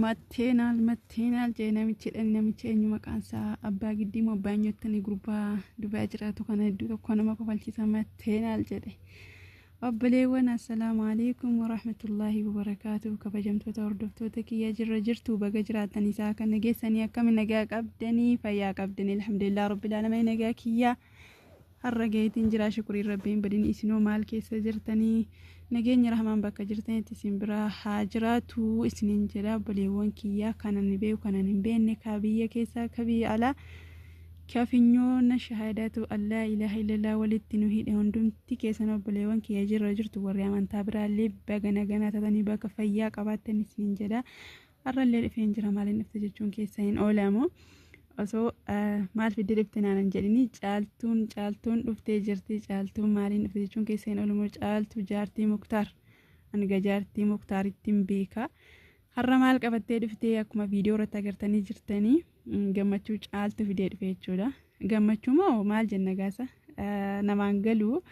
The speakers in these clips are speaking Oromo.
Matteenaal matteenaal jee namichi dhan namichi eenyu maqaan isaa abbaa giddii moo abbaa nyottanii gurbaa dubaa jiraatu kana hedduu tokko nama kofalchisa matteenaal jedhe obboleewwan assalaamu alaikum warahmatullaahi wabarakaatu kabajamtoota hordoftoota kiyya jirra jirtu baga jiraatan isaa kan nageessanii akkami nagaa qabdanii fayyaa qabdanii alhamdulillah rabbil aalamiin nagaa kiyyaa Har'a gaheetiin jira shukuriin rabbi hin badin isinoo maal keessa jirtanii nageenyi rahmaan bakka jirtanitti isin bira haa jiraatu isinin jedha obboleewwan kiyyaa kanan beeku kanan hin beekne ka biyya keessaa ka biyya alaa ka finyoona shahaadaatu allaa ilaaha illallah walitti nu hidhe hundumti keessan obboleewwan kiyya jirra jirtu warri amantaa biraallee baga naganaa tatanii bakka fayyaa qabaattan isinin jedha har'allee dhufeen jira maaliin dhufte jechuun keessa hin oolamu osoo maal fidde dhufte naan hin jedhini caaltuun caaltuun dhuftee jirti caaltuun maaliin dhufte jechuun keessa hin oolamu caaltuu jaartii muktaar hanga jaartii muktaaritti hin beeka har'a maal qabattee dhuftee akkuma viidiyoo irratti agartanii jirtanii. gammachuu caaltu fidee dhufe jechuudha. Gammachuu moo maal jenna gaasa namaan galuu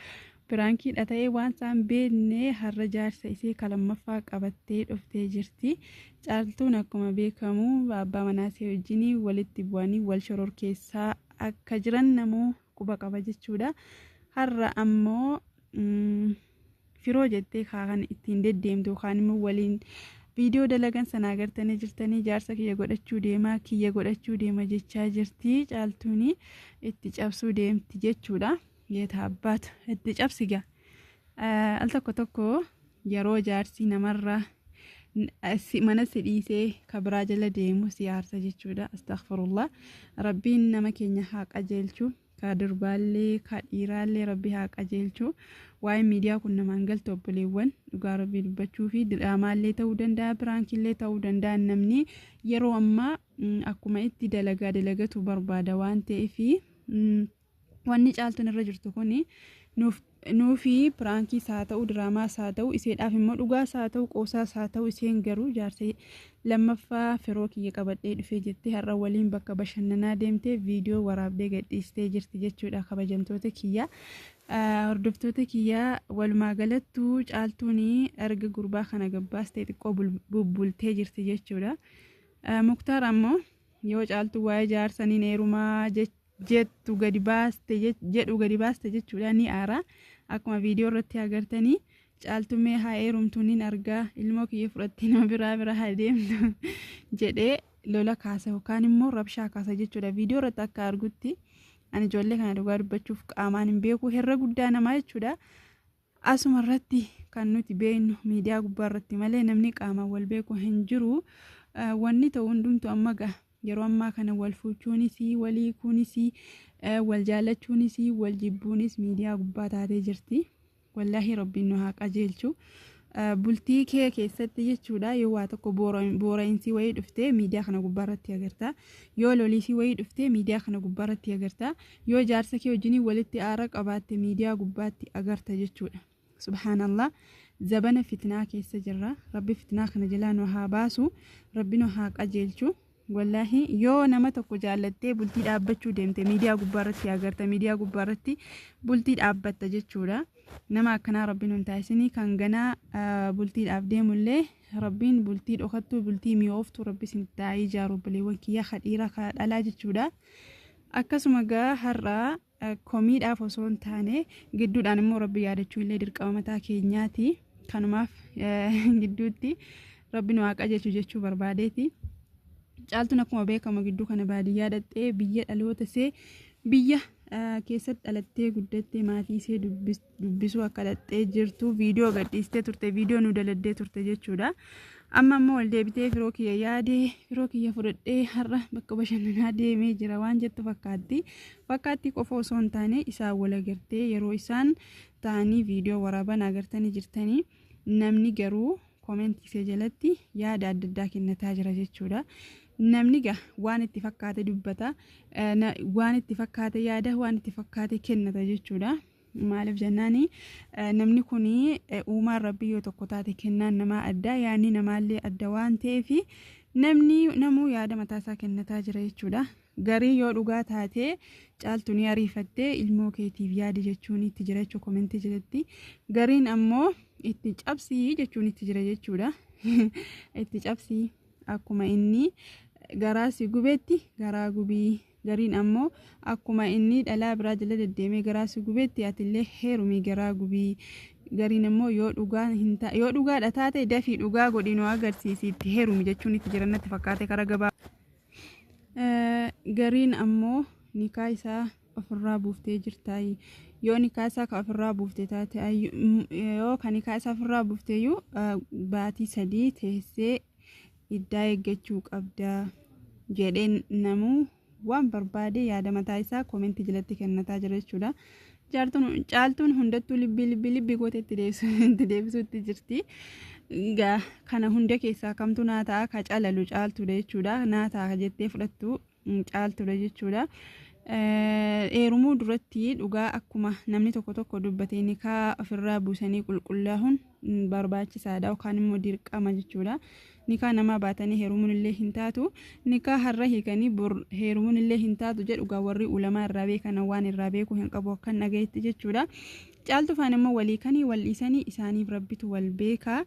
piraankiidha ta'ee waan isaan beekne har'a jaarsa isee kalammaffaa qabattee dhuftee jirti. Caaltuun akkuma beekamu abbaa manaa isee wajjin walitti bu'anii wal shororkeessaa akka jiran namuu quba qaba jechuudha. Har'a ammoo firoo jettee kan ittiin deddeemtu yookaan immoo waliin viidiyoo dalagan sana agartanii jirtanii jaarsa kiyya godhachuu deema kiyya godhachuu deema jechaa jirti caaltuuni itti cabsuu deemti jechuudha. Yeeta abbaat itti cabsigaa. Al tokko tokko yeroo jaarsi namarra mana si dhiisee ka biraa jala deemu si aarsa jechuudha. Astaghfirullah. Rabbiin nama keenya haa qajeelchu. Ka durbaallee ka dhiiraallee rabbi haa qajeelchu. Waa'een miidiyaa kun namaan galtu obboleewwan dhugaa rabbii dubbachuu fi diraamaallee ta'uu danda'a piraankiillee ta'uu danda'a namni yeroo ammaa akkuma itti dalagaa dalagatu barbaada waan ta'eef Wanni caaltuun irra jirtu kun nuuf nuufi piraankiis haa ta'u diraamaas haa ta'u iseedhaaf immoo dhugaas haa ta'u qoosaas haa ta'u iseen garuu jaarsa lammaffaa firoo kiyya qabadhee dhufee jettee har'a waliin bakka bashannanaa deemtee viidiyoo waraabdee gadhiistee jirti jechuudha kabajamtoota kiyya hordoftoota kiyya walumaa galattuu caaltuun erga gurbaa kana gabbaastee xiqqoo bubbultee jirti jechuudha muktaar ammoo yoo caaltuu waa'ee jaarsaniin eerumaa jechuudha. jettu gadi baaste jedhu gadi baaste jechuudha ni aara akkuma viidiyoo irratti agartanii caaltuu mee haa eerumtu nin argaa ilmoo kiyya fudhattee nama biraa bira haa deemtu jedhee lola kaasa yookaan immoo rabshaa kaasa jechuudha viidiyoo irratti akka argutti ani ijoollee kana dhugaa dubbachuuf qaamaan hin beeku herra guddaa namaa jechuudha Asuma irratti kan nuti beeknu miidiyaa gubbaa irratti malee namni qaamaan wal beeku hin jiru. Wanni ta'u hundumtu amma ga'a. Yeroo ammaa kana wal fuuchuunis, wal hiikuunis, wal jaallachuunis, wal jibbuunis miidiyaa gubbaa taatee jirti. Wallaahi rabbiin nu haa qajeelchu. Bultii kee keessatti jechuudha yoo waa tokko boora'insi wayii dhuftee miidiyaa kana gubbaa irratti agarta. Yoo loliisii wayii dhuftee miidiyaa kana gubbaa irratti agarta. Yoo jaarsa kee wajjiniin walitti aara qabaatte miidiyaa gubbaatti agarta jechuudha. Subhaanallah zabana fitnaa keessa jirra. Rabbi fitnaa kana jalaa nu haa baasu. Rabbi nu haa qajeelchu. Wallaahi yoo nama tokko jaallattee bultii dhaabbachuu deemte miidiyaa gubbaarratti agarta miidiyaa gubbaarratti bultii dhaabbatta jechuudha. Nama akkanaa rabbiin hin taasisinii kan ganaa ah, bultiidhaaf deemullee rabbiin bultii dhokattuu bultii mi'ooftuu rabbi isin taa'ee ijaaru obboleewwan kiyya kadhiira kadhalaa jechuudha. Akkasuma gaa har'a komiidhaaf osoo hin taane gidduudhaan immoo rabbi yaadachuu illee dirqama mataa keenyaati. Kanumaaf gidduutti rabbi nu haa qajeelchu jechuu barbaadeeti. Caaltuun akkuma beekamu gidduu kana baadiyyaa dhaqxee biyya dhaloota see biyya keessatti dhalattee guddattee maatii see dubbiste. dubbisuu akka dhaqxee jirtu viidiyoo gadhiistee turte viidiyoo nu daladdee turte jechuudha. Amma immoo ol deebitee firoo kiyya yaadee firoo kiyya fudhadhee har'a bakka bashannanaa deemee jira waan jettu fakkaatti. Fakkaatti qofa osoo hin taane isaan wal agartee yeroo isaan ta'anii viidiyoo waraaban agartanii jirtanii namni garuu koomentii ishee jalatti yaada adda addaa kennataa jira jechuudha. Namni gaa waan itti fakkaate dubbata, waan itti fakkaate yaada, waan itti fakkaate kennata jechuudha. Maaliif jennaan namni kun uumaan rabbii yoo tokko taate kennaan namaa addaa yaadni namaallee adda waan ta'eef namni namuu yaada mataasaa kennataa jira jechuudha. Garii yoo dhugaa taate caaltu ni ariifattee ilmoo keetiif yaadi jechuun itti jira jechuudha komentii jalatti. Gariin ammoo itti cabsii jechuun itti jira jechuudha. Itti cabsii akkuma inni garaa si gubetti garaa gubii. Gariin ammoo akkuma innii dhalaa biraa jala deddeemee garaa si gubetti atillee heerumii garaa gubii. Gariin ammoo yoo dhugaa hin ta yoo dhugaadha taate dafii dhugaa godhii nu agarsiisi itti heerumi jechuun itti jiran natti fakkaate karaa gabaa. Eh, Gariin ammoo nikaa isaa ofirraa buuftee jirtaayi. Yoo nikaa isaa ka ofirraa buufte taate ayyu- m- yoo ka nikaa isaa ofirraa buufteeyyuu eh, baatii sadii teessee iddaa eeggachuu qabda jedheen namuu waan barbaade yaada mataa isaa koomenti jalatti kennataa jira jechuudha. Caaltuun hundattuu libbii libbii libbii goota itti deebisuutti jirti. Kana hunda keessaa kamtu naa ta'a ka calalu caaltuudha jechuudha. Naa ta'a jettee fudhattu caaltudha jechuudha. Eerumuu duratti dhugaa akkuma namni tokko tokko dubbatee nikaa ofirraa buusanii qulqullaa'uun barbaachisaadha yookaan immoo dirqama jechuudha. Nikaa namaa baatanii heerumuun illee hin taatu. Nikaa har'a hiikanii bor heerumuun illee hin taatu jedhu gaa warri ulamaa irraa beekan waan irraa beeku hin qabu akkan dhagayetti jechuudha. Caaltufaan immoo walii kanii wal dhiisanii isaaniif rabbitu wal beekaa.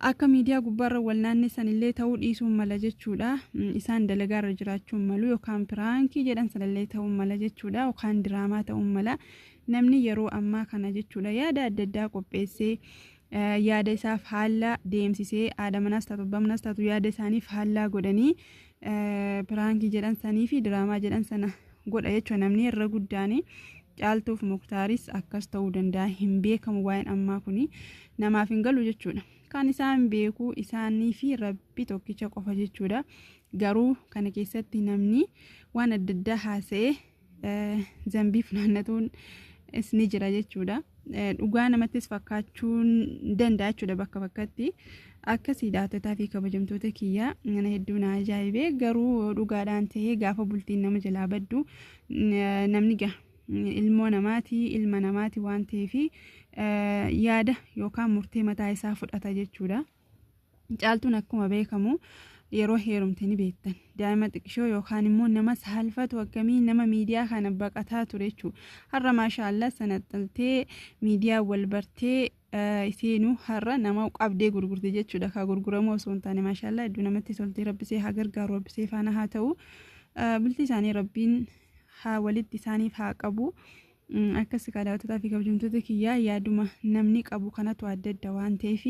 Akka miidiyaa gubbaarra wal naannessanillee ta'uu dhiisuu mala jechuudha. Isaan dalagaarra jiraachuu malu yookaan piraankii jedhan sanallee ta'uu mala jechuudha yookaan diraamaa ta'uu mala. Namni yeroo ammaa kana jechuudha yaada adda addaa qopheessee yaada isaaf haala deemsisee haadha manaas taatu abbaa manaas taatu yaada isaaniif haala godhanii Piraankii jedhan sanii fi diraamaa jedhan sana godha jechuudha namni irra guddaanii caaltuuf muktaaris akkas ta'uu danda'a hin beekamu waa'een ammaa kun namaaf hin galu jechuudha kan isaan beeku isaanii fi rabbi tokkicha qofa jechuudha garuu kana keessatti namni waan adda addaa haasa'ee zambii funaannatuun is ni jira jechuudha. Dhugaa namattis fakkaachuun danda'a jechuudha bakka bakkatti. Akkasii daawwattotaa fi kabajamtoota kiyyaa mana hedduu na ajaa'ibee garuu yoo dhugaadhaan ta'ee gaafa bultiin nama jalaa baddu namni gaha. ilmoo namaati ilma namaati waan ta'eef yaada yookaan murtee mataa isaa fudhata jechuudha. Caaltuun akkuma beekamu yeroo heerumte ni beektan daa'ima xiqqishoo yookaan immoo nama saalfatu akkamii nama miidiyaa kana baqataa ture jechuudha. Har'a maashaa Allah sanaxxaltee miidiyaa wal bartee isiinuu har'a nama qabdee gurgurte jechuudha. Kaa gurguramuu osoo hin taane maashaa Allah hedduu namatti toltee rabbisee haa gargaaru rabbisee faana haa ta'u. Bultii isaanii rabbiin haa walitti isaaniif haa qabu. Akkas egaa daawwattotaa fi kabajamtoota kiyyaa yaaduma namni qabu kanatu adda adda waan ta'eef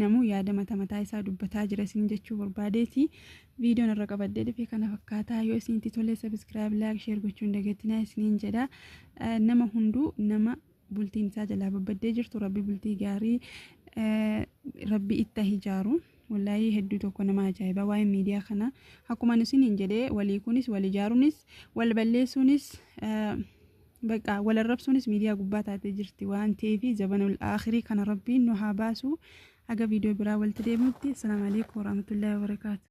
namuu yaada mata mataa isaa dubbataa jira isin jechuu barbaadeeti. Viidiyoon irra qabadhee dhufe kana fakkaataa yoo isinitti tole sabiskiraayib laayik sheer gochuun dagatinaa isiniin jedha. Nama hunduu nama bultiin isaa jalaa babbaddee jirtu rabbi bultii gaarii rabbi itti hijaaru. Wollaahii hedduu tokko nama ajaa'iba waa'een miidiyaa kana akkuma nu siniin jedhee walii kunis wal ijaaruunis wal balleessuunis baqa wal arrabsuunis miidiyaa gubbaa taatee jirti waan ta'eef zabanul aakhirii kana rabbiin nu haa baasu haga viidiyoo biraa walitti deebinutti assalaamu alaikum warahmatullaahi wabarakaatu.